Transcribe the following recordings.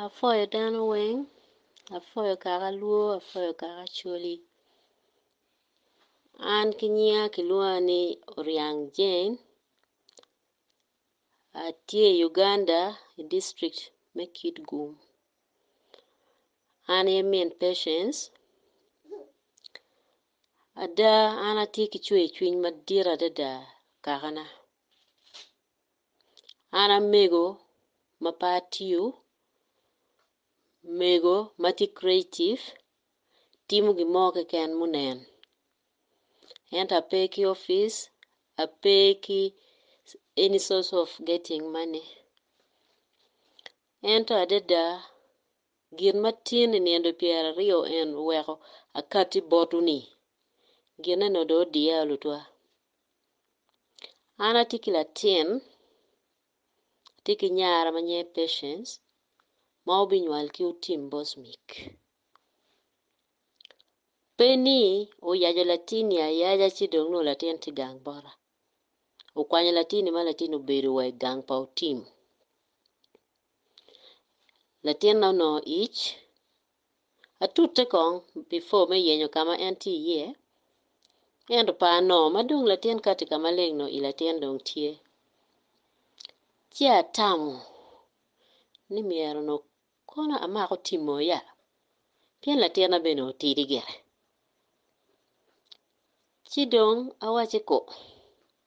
Apwoyo dano weng, apwoyo kaka lwo, apwoyo kaka acholi. An ki nyinga kilwonga ni Oriang Jane, atye i Uganda i district me Kitgum. An aye min Patience, ada an atye ki cwercwiny madit adada kakana. An amego ma pe atiyo, mego ma tye creative timo gin mo keken ma onen ento ape ki opic, ape ki any source of getting money ento adada gin ma tin i nino pyera aryo en oweko akati botwu-ni gin eno dong odiya lutwa. An atye ki latin atye ki nyara ma nyinge patience ma obinywal ki otim bosmik pe ni oyaco latinni ayaca ci dong nongo latin tye gang bota okwanyo latinni ma latinni obedo wa i gang pa otim latinna onongo ic. Atute kong before me yenyo ka ma en tye iye. Ento par no, ma dong latin kati ka maleng no i latin dong tye, ci atamo ni myero no kono amako timo ya? Pien latinna bene otidi gire. Ci dong awacci ku.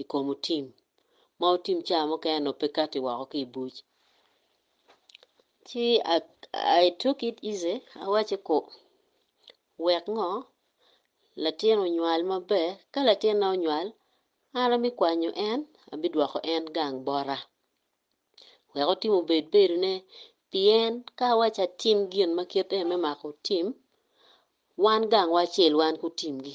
i kom otim ma otim ca mukene onongo pe kati woko ki i buc. Ci I took it easy awacci ku wek ngo latin onywal maber ka latinna onywal an abikwanyo en abidwoko en gang bota wek otim obed bedone pien ka awacci atim gin ma kite me mako otim wan gangwa acel wan ki otimgi.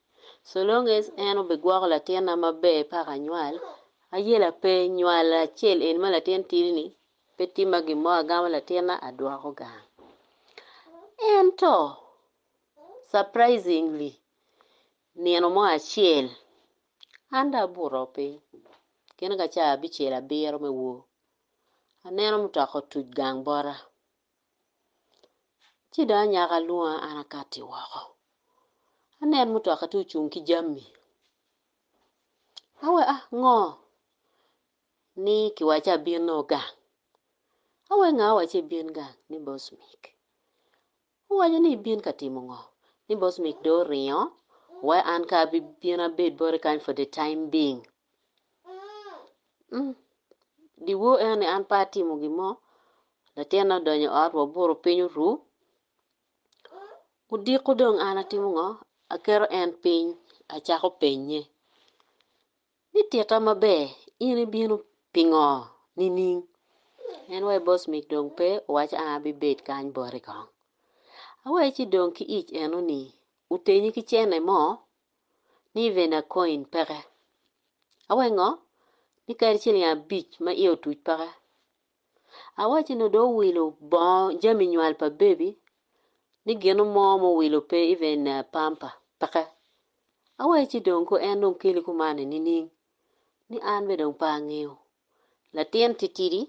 So long as en obigwoko latinna maber paka anywal, ayela pe nywal acel eni ma latin tidi ni pe timma gin mo agamo latinna adwoko gang. Ento surprisingly nino mo acel an dong abuto piny gin ka ca abicel abiro me wor aneno mutoka otuc gang bota. Ci dong anyaka lwonga an akati woko, aneno mutoka tye ocung ki jami, awe a ngo? ni kiwaco abino gang, awe nga owaci ibin gang? ni boss Mic, owaco ni ibin ka timo ngo? ni boss Mic dong oringo wa an kong abino abed boti kany for the time being. Dyewor eno ni an pe atimo gin mo, latinna odonyo i ot wabuto piny oru, odiko dong an atimo ngo? Aketo en piny acako penye ni tita maber in ibino pingo nining? En wa i bosmik dong pe owaco ang abibed kany boti kong, awaco ci dong ki ic eno ni otenyi ki cene mo ni Ivena Coin peke. Awengo ni kadi ciling abic ma iye otuc peke. Awacci ni dong owilo bongo jami nywal pa bebi ni ginu mo ma owilo pe even pamper peke. Awacci ci dong ko en dong keli kumani nining? Ni an bene dong pe angeyo. Latin titidi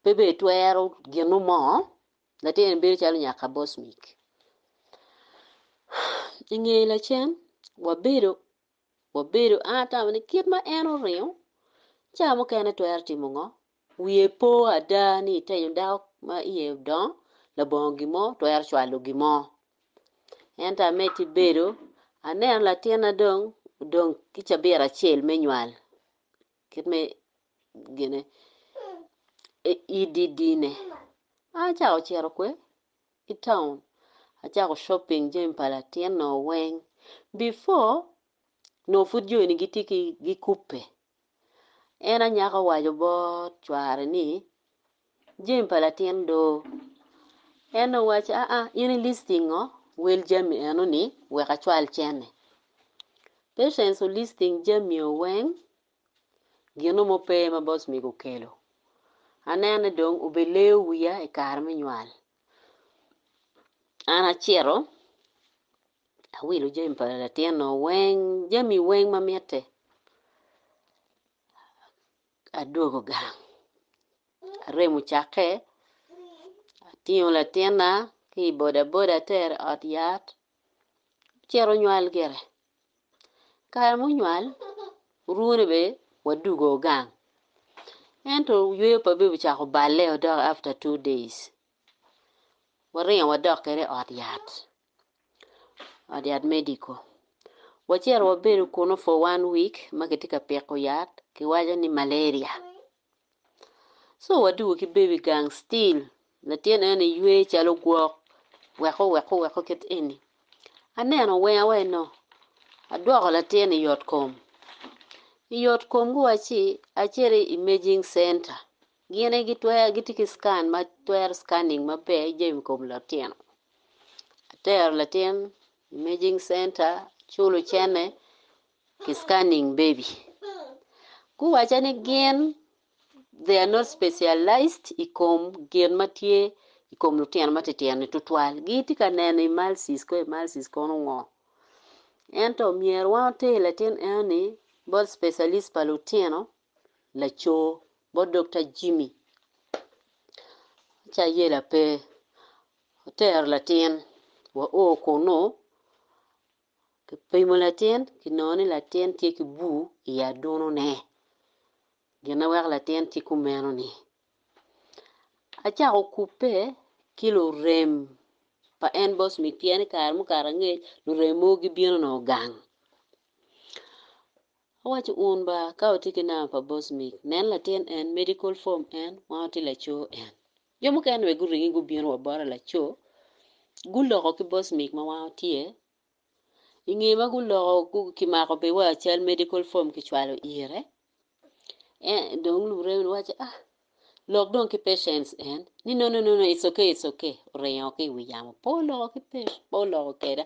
pe bene twero ginu mo. Latin en bedo calo nyaka bocmic. I nge lacen, wabedo, wabedo, an atamo ni kit ma en oringo, cawa mukene twero timo ngo? Wiye po ada ni itenyo dako ma iye odongo labongo gin mo, twero cwalo gin mo. Ento amed ki bedo, aneno latinna dong odong ki cabit acel me nywal. kit me gine ididine an acako cito kwe i town acako shopping jami pa latinna weng before nongo pud jo eni gitye ki gikube en anyaka owaco bot cware ni Jami pa latin doo. En owacci, Aa, in i listi ngo? Wel jami eno ni wek acwal cene. Patience o listing jami o weng, gino mo pe ma boss mego okelo. Anene dong obeleyo wiya i kare me nywal. An acito awilo jami pa latin o weng, jami weng ma mitte. Adwogo gang, aremo cakke, atingo latinna ki i bodaboda atere i ot yat, ocito onywal gire. Kare munywal, orwone bene wadwogo gang ento yweyo pa bebi ocako balle-o dok after two days, waringo wadok kwede i ot yat. ot yat medical wacito wabedo kunu for one week ma kitye ka piko yat kiwaco ni malaria so wadwogo ki baby gang still latin eno ywe calo gwok weko weko weko kit eni aneno wenga wa eno adwoko latin i yot kom, i yot kom gi wa ci acito i imaging center Gine gitwero gitye ki scan ma twero scanning maber jami kom latino, atero latin imaging center culo cene ki scanning baby. Guwaca ni gin they are not specialised i kom gin ma tye i kom lutino ma titino ni tutwal gitye ka neno emulsis ko emulsis kono ngo ento myero wan water latin eno ni bot specialist pa lutino laco bot Dokta Jimmy ci ayela pe otero latin wa o kunu kipimo latin kinongo ni latin tye ki bur i aduno ne gin ma weko latin tye kumeno ni acako kube ki lurem pa en bot mi pien i kare mukato angec lurem mogo gibino nongo gang Awaco un ba ka watye ki namba pa Bosmik, nen latin en, medical form en, wan watye laco en. Jo mukene bene guringi gubino wa bota laco, guloko ki Bosmik ma wan watye, i nge ma guloko gu kimako bene wa cal medical form kicwalo ire, en dong lumurembi ni waco ah lok dong ki patients en ni no no no no it's okay it's okay oringo ki i wi yamo pe oloko ki pe pe oloko keda.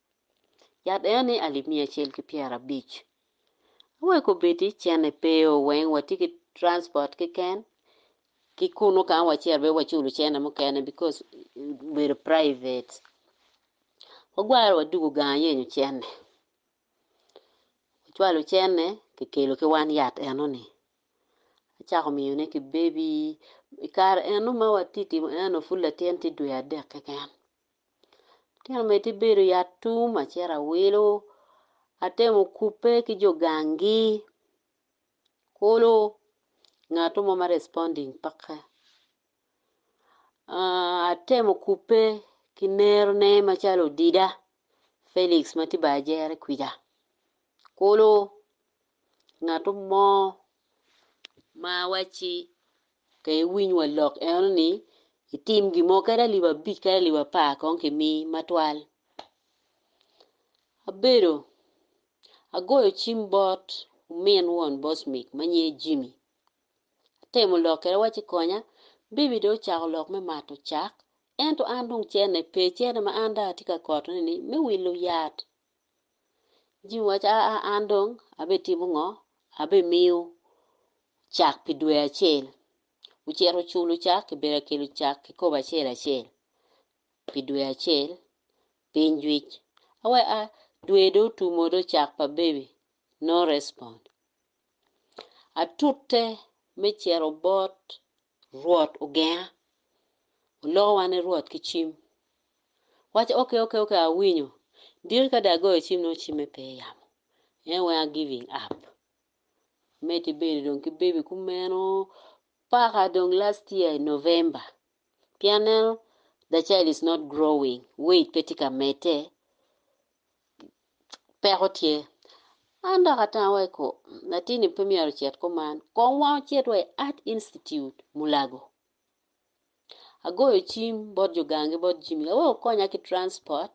Yat eno ni alip miya acel ki pyera abic. Awek obedi cene pe o weng watye ki transport keken ki kunu kama wacito be waculo cene mukene because obedo private. Wagwaro wadugu gang ayenyo cene. Wacwalo cene kikelo ki wan yat eno ni. Acako miyo ne ki baby. I kare eno ma watye timo eno pud latin tye dwe adek keken. Atino mere tye bedo i atum acito awelo atemo kubbe ki jo gangi kulu ngat mo ma responding peke atemo kubbe ki nerone macalo odida Felix ma tye bene ajere kwija. Kulu ngatu mo ma wacci ka iwiny wa lok eno ni itim gin mo kadi alip abic kadi alip apar kong kimi matwal. Abedo agoyo cim bot min won Bosmic ma nyinge Jimmy atemo lok kwede awacci konya, Baby dong ocako lok me mato cak ento an dong cerne pe cerne ma an dong atye ka kotone ni me wilo yat Ci mi wacci, Aa, an dong abitimo ngo? Abimiyo cak pi dwe acel. Ocito oculo cak, kibedo ka kelo cak kikopo acel acel pi dwe acel, piny jwic. Awe a, dwe dong otumo dong cak pa baby, no respond. Atute me cito bot. Rwot ogenga. Oloko wan ni Rwot ki cim. Waco, Okay, okay, okay, awinyo. Diki ka dong agoyo cim nongo cimme pe i yamo. En weng a giving up. Medo ibedo dong ki baby kumeno paka dong last year i November. Pien aneno the child is not growing, weight pe tye ka medde. peko tye. An dok atanga wa i ko, latin-ni pe myero ocit kuman, kong wan ocit wa i Art Institute, Mulago. Agoyo cim bot jo gangi bot Jimmy wek okonya ki transport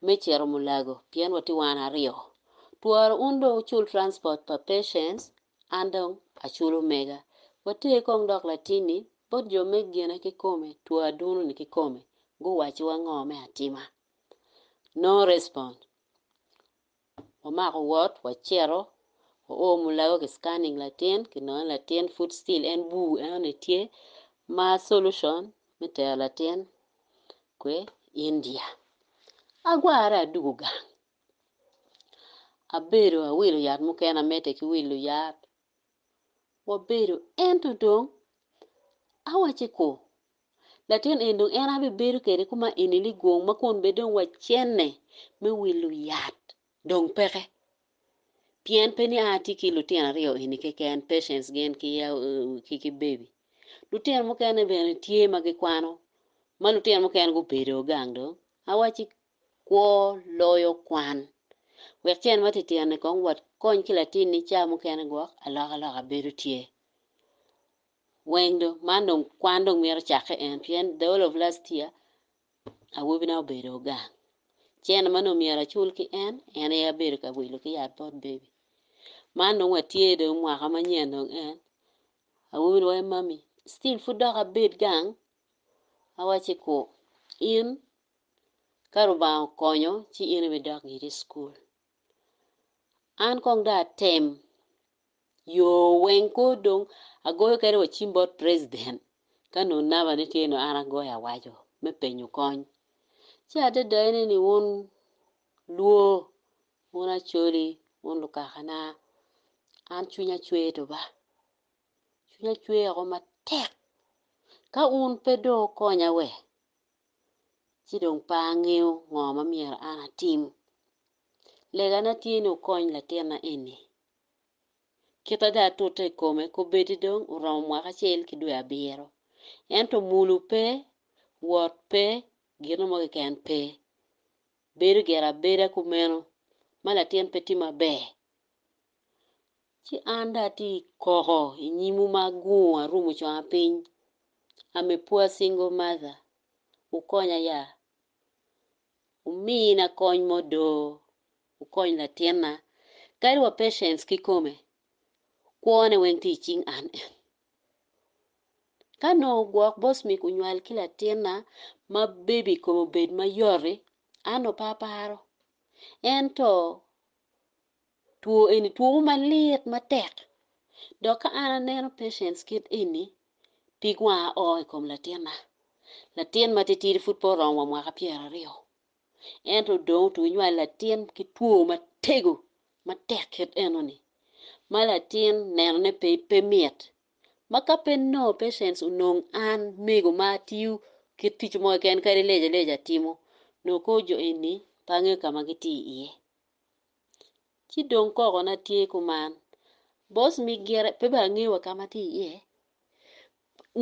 me cito Mulago pien watye wan aryo. Twara un dong wucul transport pa Patience, an dong aculo mega. Water kong dok latin-ni bot jo me gine kikome, twara duno-ni kikome, guwacciwa ngo me atima. No respond. Wamako wot, wacito, oo mulago ki scanning latin, ki nono latin pud still en bur en one tye, ma solution me tero latin kwe India. Agwarre adugu gang, abedo awilo yat mukene amedde ki wilo yat, wabedo ento dong awaco ni ku Latin eni dong en aye abibedo kwede kuma eni ni gwong ma kun bed dong wacenne me wilo yat dong peke. Pien pe ni a atye ki lutino aryo eni keken, Patience gin ki Baby. Lutino mukene bene tye ma gikwano, ma lutino mukene gubedo gang dong. Awacci kwo loyo kwan. Wek ce en ma titino-ni kong wakony ki latinni ca mukene gwok, alokaloka bedo tye. Weng dong, man dong kwan dong mito cakke en pien the whole of last year awobi na obedo gang, cene ma nongo myero acul ki en, en aye abedo ka wilo ki yat bot baby. Man dong watye dong mwaka manyen dong en, awobi ni wai mummy still pud dok abed gang? Awacci ku in ka Rubanga okonyo ci in ibidok giri i school. An kong dong atem yo weng kor dong agoyo kene wa cim bot president ka nongo namba ne tye nongo an agoyo awaco me penyo kony. Ci adada ene ni wun luo, wun acholi, wun lukakana an cwinya cwer duba, cwinya cwer woko matek ka wun pe dong wukonya we ci dong pe angeyo ngo ma myero an atim. Legana tye ni wukony latinna eni. Kit ada atute i kome kobedi dong oromo mwaka acel ki dwe abiro, ento mulu pe, wot pe, gino mo keken pe. Bedo gire abeda kumeno ma latin pe tye maber. Ci an dong atye i koko i nyimwu ma agungo arumo conga piny. I'm a poor single mother, wukonya ya. Wumina kony mo do, wukony latinna. Kadi wa Patience kikome, kwone weng tye i cing an en. Ka nongo gwok boss me kunywal ki latinna ma baby kome obed mayot-ti, an nongo pe aparo. Ento Two eni two mo malit matek dok ka an aneno patients kit eni pig wanga o i kom latinna. Latin matitidi pud pe oromo wa mwaka pyeraryo ento dong otwero nywalo latin ki two matego matek kit enoni ma latin nenone pe mit ma ka pe nongo patients onong an mego ma atiyo kit tic mo keken kadi leja leja atimo nongo kor jo eni pe angeyo ka ma gitye iye. ci dong koko na tye kuman boss me gire pe bene angeyo wa kama tye iye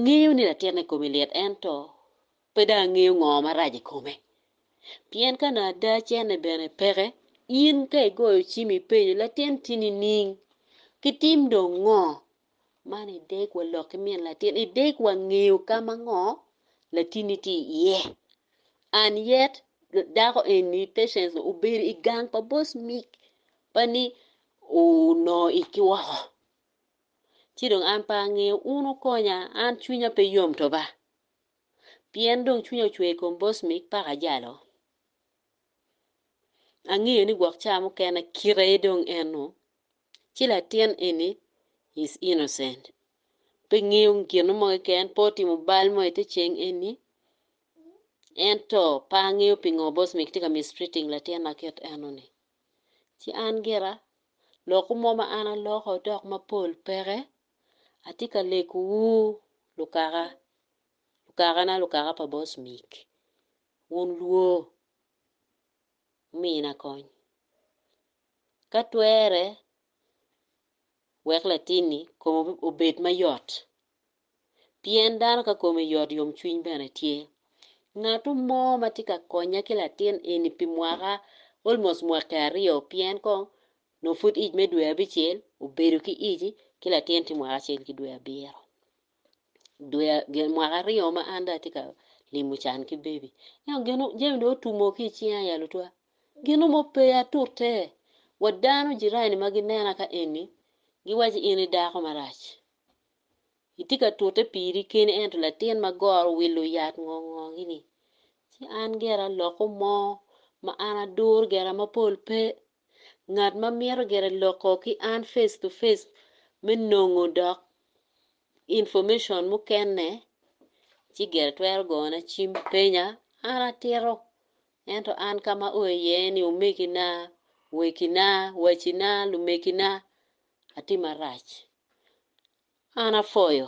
ngeyo ni latin na kome lit ento pe dong angeyo ngo marac ikome pien ka nongo ada cene bene peke in ka igoyo cim ipenyo latin tye nining kitim dong ngo Man i deg wa lok ki min latin i deg wa ngeyo ka ma ngo latinni tye iye and yet dako eni patience obedo i gang pa boss mic ma ni onongo ic ki woko ci dong an pe angeyo un wukonya an cwinya pe yom twaba pien dong cwinya ocwer i kom boss mic paka jalo. angeyo ni gwok ca mukene kit aye dong en o ci latin eni is innocent pe ngeyo gin mo keken pe otimo bal mo ite ceng eni ento pe angeyo pingo boss me kitye ka mistreating latina kit eno ni ci an gira lokwu mo ma an aloko dok mapol peke atye ka lego wu lukaka, lukaka na lukaka pa boss Mick. wun lwor wumina kony. Ka twere, wek latinni kome obed mayot, pien dano ka kome yot yomcwiny bene tye. Ngatu mo ma tye ka konya ki latin eni pi mwaka almost mwaki aryo pien kong nongo pud ic me dwe abicel obedo ki ic ki latin tye mwaka acel ki dwe abiro. dwe mwaka aryo ma an dong atye ka limo can ki bebi ento gin mo jami dong otumo ki icinga ya lutwa gin mo pe atute wa dano jirani ma ginena ka eni giwaco in i dako marac itye ka tute piri keni ento latin ma goro owilo yat ngo ngo gi ni ci an gire alokke mo ma an aduru gire mapol pe. Ngat ma mito gire loko ki an face to face me nongo dok information mukene, ci gire twero gona cim penya, an atito. Ento an ka ma aoyo iye ni omegina, wegina, wacina, lumegina, atye marac. An apwoyo.